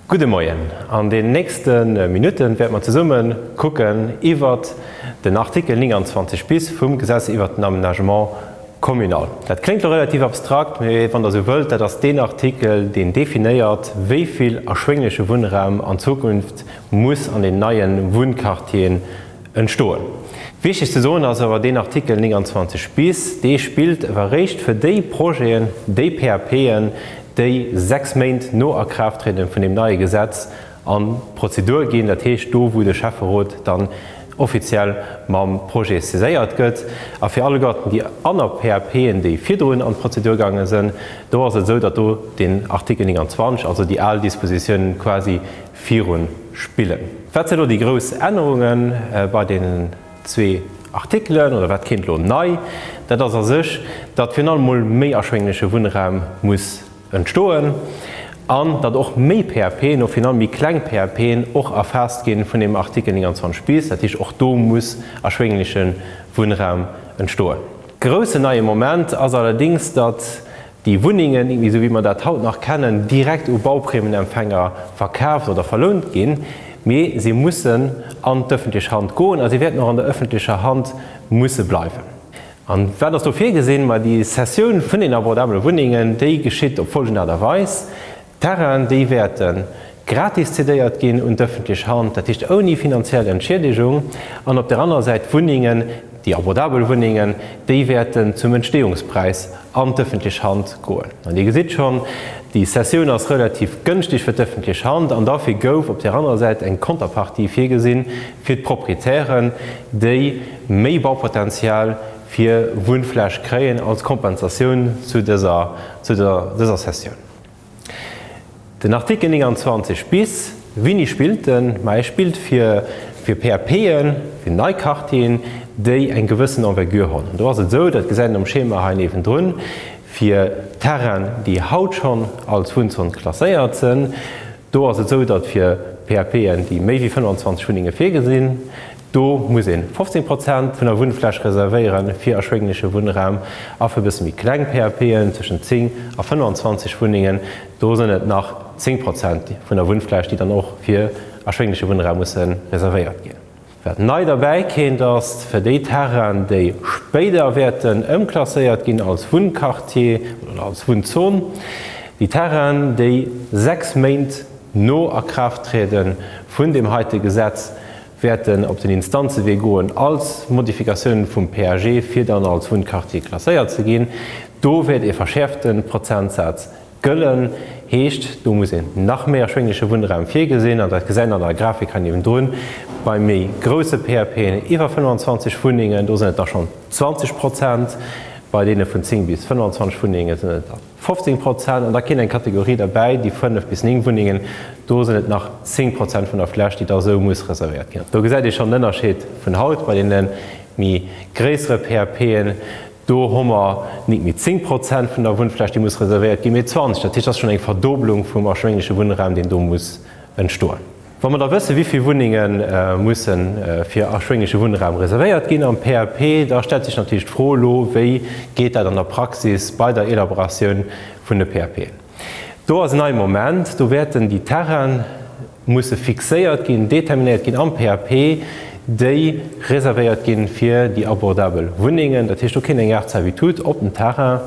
Gudde Moien. An den nächste Minutten wäerte mer zesumme kucken iwwert den Artikel 29 bis vum Gesetz iwwert den Aménagement communal. Dat kléngt elo relativ abstrakt, mee wann Der esou wëllt, dat ass deen Artikel, deen definéiert, wéi vill erschwéngleche Wunnraum an Zukunft muss an den neie Wunnquartieren entstoen. Wichteg ze soen ass awer, deen Artikel 29 bis, dee spillt ewer réischt fir déi Projeten, déi PAPen, déi sechs Méint no Akraafttriede vun deem neie Gesetz an d'Prozedur ginn, dat heescht do wou de Schäfferot dann offiziell mam Projet saiséiert gëtt. A fir alleguerten déi aner PAPen, déi virdrun an d'Prozedur gaange sinn, do ass et esou, datt do deen Artikel 29, also déi al Dispositiounen quasi, virun spillen. Wat sinn elo déi grouss Ännerunge bei deenen zwee Artikelen oder wat kéint elo nei? Dat ass a sech, datt virun allem mol méi erschwéngleche Wunnraum muss entstoen an datt och méi PAPen, och virun allem méi kleng PAPen, och erfaasst ginn vun deem Artikel 29 bis. Dat heescht, och do muss erschwéngleche Wunnraum entstoen. Groussen neie Moment ass allerdéngs, datt déi Wunnengen, esou wéi mer dat haut nach kennen, direkt u Bauprimenempfänger verkaaft oder verlount ginn, mee se mussen an d'öffentlech Hand goen a se wäerten och an der öffentlecher Hand musse bleiwen. An wat ass do virgesinn? Ma déi Cessioun vun den abordabele Wunnengen, déi geschitt op folgend Aart a Weis, Terrainen, déi wäerte gratis zedéiert ginn un d'ëffentlech Hand, dat heescht ouni finanziell Entschiedegung, an op der anerer Säit Wunnengen, déi abordabel Wunnengen, déi wäerten zum Entsteeungspräis an d'ëffentlech Hand goen. An Dir gesitt schonn, déi Cessioun ass relativ gënschteg fir d'ëffentlech Hand an dofir gouf op der anerer Säit eng Konterpartie virgesinn fir d'Proprietären, déi méi Baupotenzial fir Wunnfläch kréien als Kompensatioun zu dëser Cessioun. Den Artikel 29 bis, Wini spillt en? Ma e spillt fir fir PAPen, fir nei Quartieren, déi eng gewëssen Envergure hunn. An do ass et esou, dat gesäit een am Schema hei niewendrun, fir Terrainen, déi haut schonn als Wunnzon klasséiert sinn, do ass et esou, datt fir PAPen, déi méi wéi 25 Wunnenge virgesinn, Do muss een 15 Prozent vun der Wunnfläch reservéieren fir erschwéngleche Wunnraum a fir bësse méi kleng PAPen, tëschent 10 a 25 Wunnengen, do sënn et nach 10 Prozent vun der Wunnfläch, déi dann och fir erschwéngleche Wunnraum musse reservéiert ginn. Wat nei derbäi kéint, ass fir déi Terrainen, déi spéider wäerten ëmklasséiert ginn als Wunnquartier oder als Wunnzon, déi Terrainen, déi 6 Méint no Akraafttriede vun deem heite Gesetz wäerten op den Instanzewee goen als Modifikatiounen vum PAG, fir dann als Wunnquartier klasséiert ze ginn. Do wäert ee verschäerfte Prozentsaz gëllen, heescht, do muss een nach méi erschwéngleche Wunnraum virgesinn. An dat gesäit een an der Grafik hei niewendrun, bei méi grousse PAPen iwwer 25 Wunnengen, do sinn et da schonn 20 Prozent, bei deene vun 10 bis 25 Wunnenge sinn et der. 15 Prozent, an da kéint eng Kategorie derbäi, déi 5 bis 9 Wunnengen, do sinn et nach 10 Prozent vun der Fläch, déi da esou muss reservéiert ginn. Do gesäit ee schonn den Ënnerscheed vun haut bei deene méi gréissere PAPen. Do hu mer nik méi 10 Prozent vun der Wunnfläch, déi muss reservéiert ginn, mee 20. Dat heescht, et ass schonn eng Verdoblung vum erschwéngleche Wunnraum, deen do muss entstoen. Wa mer da wëssen, wéi vill Wunnenge musse fir erschwénglesche Wunnraum reservéiert ginn am PAP, da stellt sech natierlech d'Fro elo, Wéi geet dat an der Praxis bei der Elaboratioun vun de PAPen? Do ass en neie Moment. Do wäerten déi Terraine musse fixéiert ginn, determinéiert ginn am PAP, déi reservéiert ginn fir déi abordabel Wunnengen. Dat heescht, do kéint eng Art Servitut op den Terrain.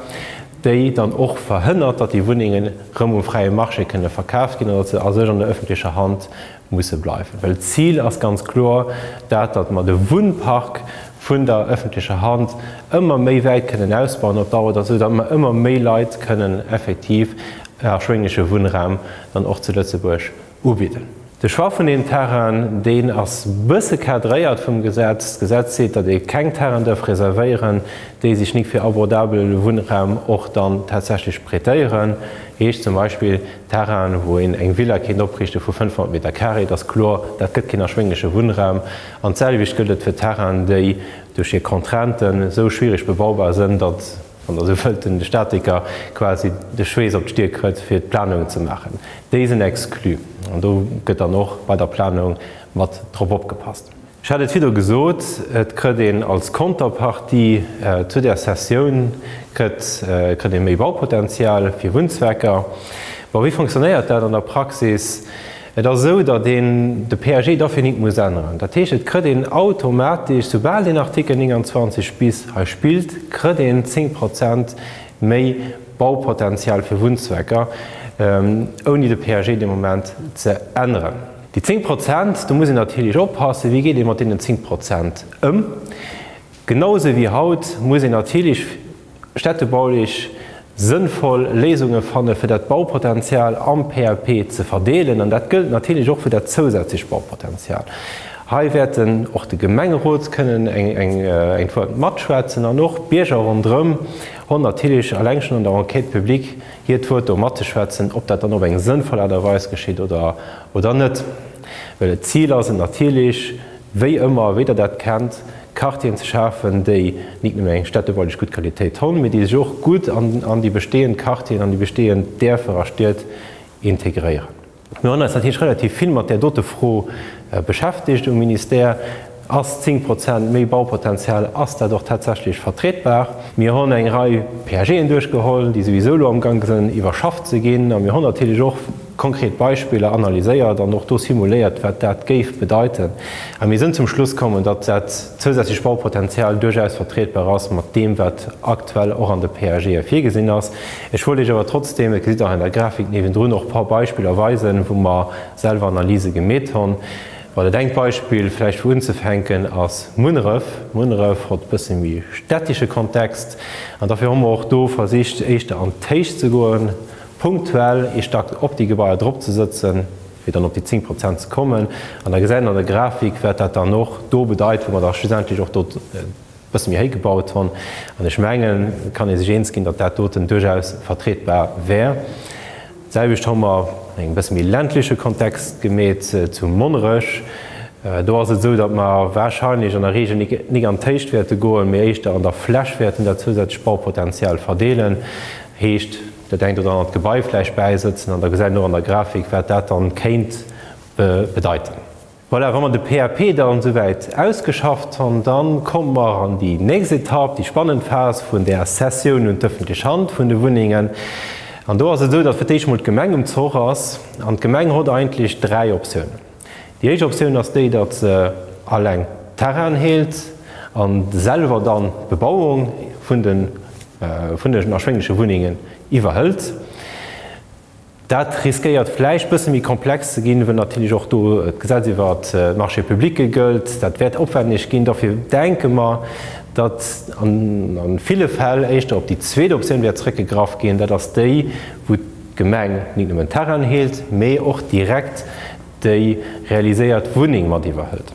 déi dann och verhënnert, datt déi Wunnengen erëm um fräie Marché kënne verkaaft ginn an datt se a sech an der öffentlecher Hand musse bleiwen. Well d'Zil ass ganz kloer dat, datt mer de Wunnpark vun der öffentlecher Hand ëmmer méi wäit kënnen ausbauen op Dauer, datt esou datt mer ëmmer méi Leit kënnen effektiv erschwéngleche Wunnraum dann och zu Lëtzebuerg, ubidden. De Choix vun deem Terrain, deen ass bësse cadréiert vum Gesetz. D'Gesetz seet, datt ee keng Terraine dërf reservéieren, déi sech nik fir abordabele Wunnraum och dann tatsächlech prêtéieren. Heescht zum Beispill Terrainen, wou een eng Villa kéint opriichte vu 500 Meter carré. Et ass kloer, dat gëtt keen erschwéngleche Wunnraum. An d'selwecht gëllt et fir Terrainen, déi duerch hir Contrainten esou schwiereg bebaubar sënn, datt. An esou wëllt den Statiker quasi de Schweess op d'Stier krëtt fir d'Planungen ze maachen. Déi sinn exclu an do gëtt dann och bei der Planung mat drop opgepasst. Ech hat et virdru gesot, et krëtt een als Konterpartie zu där Cessioun krëtt krëtt ee méi Baupotenzial fir Wunnzwecker. Bon, wéi fonctionnéiert dat an der Praxis? Et ass esou, datt een de PAG dofir nit muss änneren. Dat heescht, et krëtt een automatesch, soubal een Artikel 29 bis hei spillt, krëtt een 10 Prozent méi Baupotenzial fir Wunnzwecker, ouni de PAG dee Moment ze änneren. Déi 10 Prozent, do muss een natierlech oppassen, wéi geet ee mat deenen 10 Prozent ëm. Genau sou wéi haut muss een natierlech städtebaulech sënnvoll Léisunge fanne fir dat Baupotenzial am PLP ze verdeelen an dat gëllt natierlech och fir dat zousätzlecht Baupotenzial. Hei wäert och de Gemengerot kënnen eng Wuert matschwätzen an och d'Bierger ronderëm hunn natierlech alleng schonn an der Enquête publique hiert Wuert do matzeschwätzen, ob dat dann op eng sënnvoll Aart a Weis geschitt oder net. Well d'Zil ass et natierlech wéi ëmmer, wéi Der dat kennt, Quartieren ze schafen, déi nik nëmme eng städtebaulich gutt Qualitéit honn, mee déi sech och gutt an déi bestehend Quartieren, an déi bestehend Därfer a Stied integréieren. Mir hunn eis natierlech relativ vill mat där dote Fro beschäftigt um Ministère. Ass 10 Prozent méi Baupotenzial, ass dat och tatsächlech vertretbar? Mir hunn eng Rei PAGen duerchgeholl, déi souwisou elo amgang sinn iwwerschafft ze ginn, a mir hunn natierlech och, konkret Beispiller analyséiert an och do simuléiert, wat dat géif bedeiten. A mir sinn zum Schluss kommen, datt dat zousätzlecht Baupotenzial duerchaus vertrietbar ass mat deem, wat aktuell och an de PAGe virgesinn ass. Ech wollt Iech awer trotzdeem, et gesitt Der och an der Grafik niewendrun, och e paar Beispiller weisen, wou mer selwer Analyse gemeet hunn. Well et engt Beispill vläicht, wou unzefänken, ass Munneref. Munneref huet e bësse méi städtische Kontext an dofir hu mer och do versicht, éischter an d'Héicht ze goen, punktuell ee Stack op déi Gebaier drop ze sëtzen, fir dann op déi 10 Prozent ze kommen. An da gesäit een an der Grafik, wat dat dann och do bedeit, wou mer da schlussendlech och do e bësse méi héi gebaut hunn. An ech mengen, et kann ee sech eens ginn, datt dat doten duerchaus vertrietbar wär. D'selwecht hu mer, an engem bësse méi ländleche Kontext gemeet, zu Monnerech. Do ass et esou, datt mer warscheinlech an der Regel nik an d'Héicht wäerte goen, mee éischter an der Fläch wäerten dat zousätzlecht Baupotenzial verdeelen. Heescht. dat engt oder anert Gebai vläicht bäisëtzen an da gesäit een och an der Grafik, wat dat dann kéint bedeiten. Voilà, wa mer de PAP dann esouwäit ausgeschafft han, da komme mer an déi nächst Etapp, déi spannend Phas vun där Cessioun un d'öffentlech Hand vun de Wunnengen. An do ass et esou, datt fir d'éischt emol d'Gemeng um Zoch ass an d'Gemeng hott eigentlech dräi Optiounen. Déi éischt Optioun ass déi, datt se alleng d'Terrainen heelt a selwer dann d'Bebauung vun den erschwéngleche Wunnengen iwwerhëlt. Dat riskéiert vläicht e bësse méi komplex ze ginn, well natierlech och do d'Gesetz iwwer d'Marchés publics gëllt. Dat wäert opwänneg ginn. Dofir denke mer, datt a ville Fäll éischter op déi zweet Optioun wäert zrëckgegraff ginn, dat ass déi, wou. D'Gemeng nit nëmmen d'Terrainen heelt, mee och direkt déi realiséiert Wunneng mat iwwerhëlt.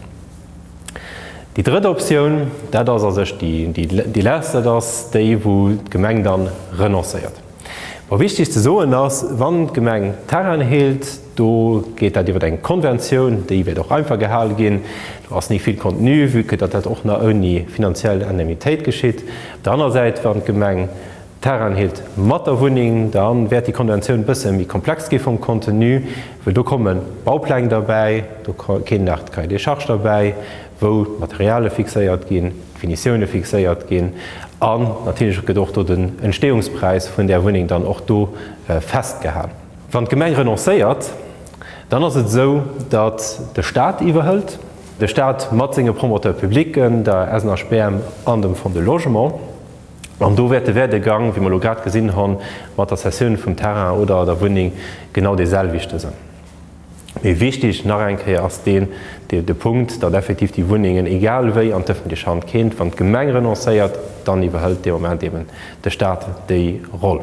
Déi drëtt Optioun, dat ass a sech déi lescht, dat ass déi wou d'Gemeng dann renoncéiert. Wa wichteg ze soen ass, wann d'Gemeng d'Terrainen heelt, do geet dat iwwer eng Konventioun, déi wäert och einfach gehale ginn, do ass ni vill Contenu, vue que datt dat och nach ouni finanziell Indemnitéit geschitt. Op der aner Säit, wann d'Gemeng D'Terrain heelt mat der Wunneng. Da wäert déi Konventioun e bësse méi komplex gi vum Contenu, well do komme Baupläng derbäi, do kéim nach de Cahier des charges derbäi, wou d'Materialie fixéiert ginn, d'Finitioune fixéiert ginn an natierlech gëtt och do den Entstehungspräis vun där Wunneng dann och do festgehal. Wann d'Gemeng renoncéiert, dann ass et esou, datt de Stat iwwerhëlt, de Stat mat senge Promoteurs publics, der SNHBM an dem Fonds de Logement. An do wäert de Werdegang, wéi mer elo grad gesinn hu mat der Cessioun vum Terrain oder der Wunneng, genau deeselwechte sinn. Mee wichtig nach eng Kéier ass deen, de Punkt, datt effektiv déi Wunnengen egal wéi an d'öffentlech Hand kéint. Wann d'Gemeng renoncéiert, dann iwwerhëlt dee Moment eeben de Stat déi Roll.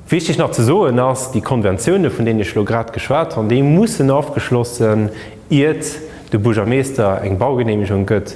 Wichtig nach ze soen ass, déi Konventiounen, vun deenen ech elo grad geschwat hunn, déi mussen ofgeschloss sinn, iert de Buergermeester eng Baugenehmigung gëtt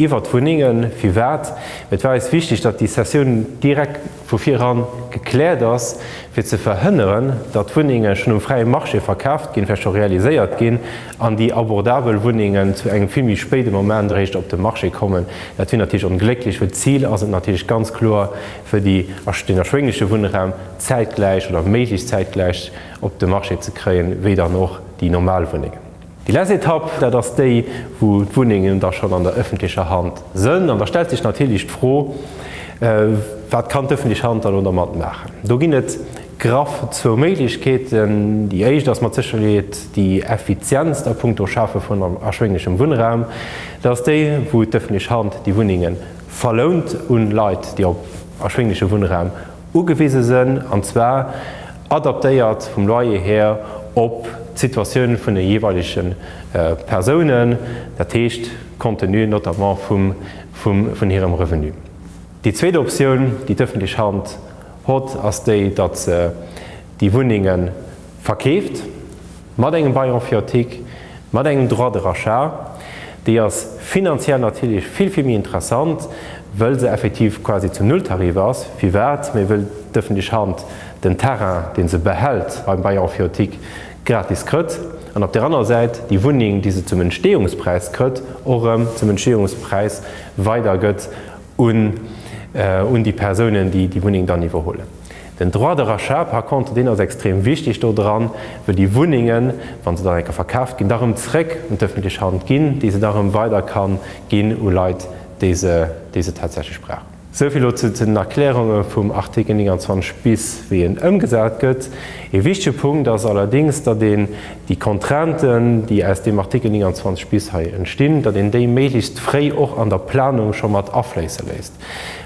iwwert d'Wunnengen. Firwat? Well et war eis wichtig, datt déi Cessioun direkt vu viran gekläert ass, fir ze verhënneren, datt Wunnenge schonn um fräie Marché verkaaft ginn, vläicht scho realiséiert ginn, an déi abordabel Wunnengen zu engem vill méi spéide Moment eréischt op de Marché kommen. Dat wier natierlech onglécklech, well d'Zil ass et natierlech ganz kloer, fir déi den erschwéngleche Wunnraum zäitgläich oder méiglechst zäitgläich op de Marché ze kréien, wéi dann och déi normal Wunnengen. Déi lescht Etapp, dat ass déi, wou d'Wunnengen da schonn an der ëffentlecher Hand sënn. An da stellt sech natierlech d'Fro, Wat kann d'ëffentlech Hand da lo dermat maachen? Do ginn et graff zwou Méiglechkeeten. Déi éischt ass mat Sécherheet déi effizientst a puncto Schafe vun erschwénglechem Wunnraum. Dat ass déi, wou d'ëffentlech Hand déi Wunnengen Verlount un Leit, déi op erschwéngleche Wunnraum ugewise sënn, an zwar adaptéiert vum Loyer hir op d'Situatioun vun de jeeweilege Persounen, dat heescht compte tenu notamment vun hirem Revenu. Déi zweet Optioun, déi d'ëffentlech Hand hott, ass déi, datt se déi Wunnenge verkeeft, mat engem Bail emphyiotique, mat engem Droit de rachat, déi ass finanziell natierlech vill, vill méi interessant, wëll se effektiv quasi zum Nulltarif ass. Firwat? Mä wëll d'ëffentlech Hand den Terrain, dee se behält beim Bail emphyiotique, gratis krëtt an op där anerer Säit déi Wunneng, déi se zum Entstehungspräis krëtt, och erëm zum Entstehungspräis weidergëtt. un déi Persounen, déi déi Wunneng dann iwwerhuelen. Den Droit de rachat par contre, deen ass extrem wichteg do dran, wëll déi Wunnengen, wa se dann eng Kéier verkaaft ginn, da rëm zréck un d'ëffentlech Hand ginn, déi se da rëm weider kann ginn u Leit, déi se, déi se tatsächlech brauchen. Esou vill elo zu den Erklärunge vum Artikel 29 bis, wéi en ëmgesat gëtt. Ee wichtege Punkt ass allerdéngs, datt een déi Contrainten, déi aus deem Artikel 29 bis hei entstinn, datt een déi méiglechst fréi och an der Planung scho mat afléisse léisst.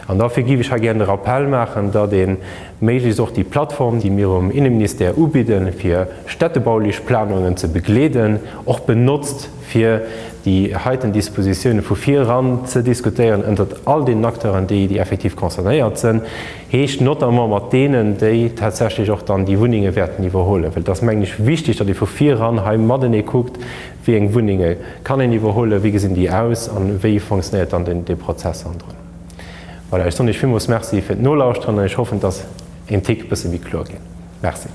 An dofir géif ech hei gären de Rappell maachen, datt ee méiglechst och déi Plattform, déi mir um Inneministère ubidden, fir städtebaulech Planungen ze begleeden, och benotzt, fir déi heiten Dispositiounen vu vir eran ze diskutéieren ënnert all deenen Acteuren, déi effektiv concernéiert sinn. Heescht notamment mat deenen, déi tatsächlech och dann déi Wunnenge wäerten iwwerhuelen. Well et ass, mengen ech, wichtig, datt ee vu viran hei matenee kuckt, wéi eng Wunnenge kann een iwwerhuelen, wéi gesinn déi aus a wéi funktionéiert dann dee Prozess hannendrun. Voilà, ech soen Iech villmools Merci fir d'Nolauschteren an ech hoffen, et ass een Tick e bësse méi kloer ginn. Merci.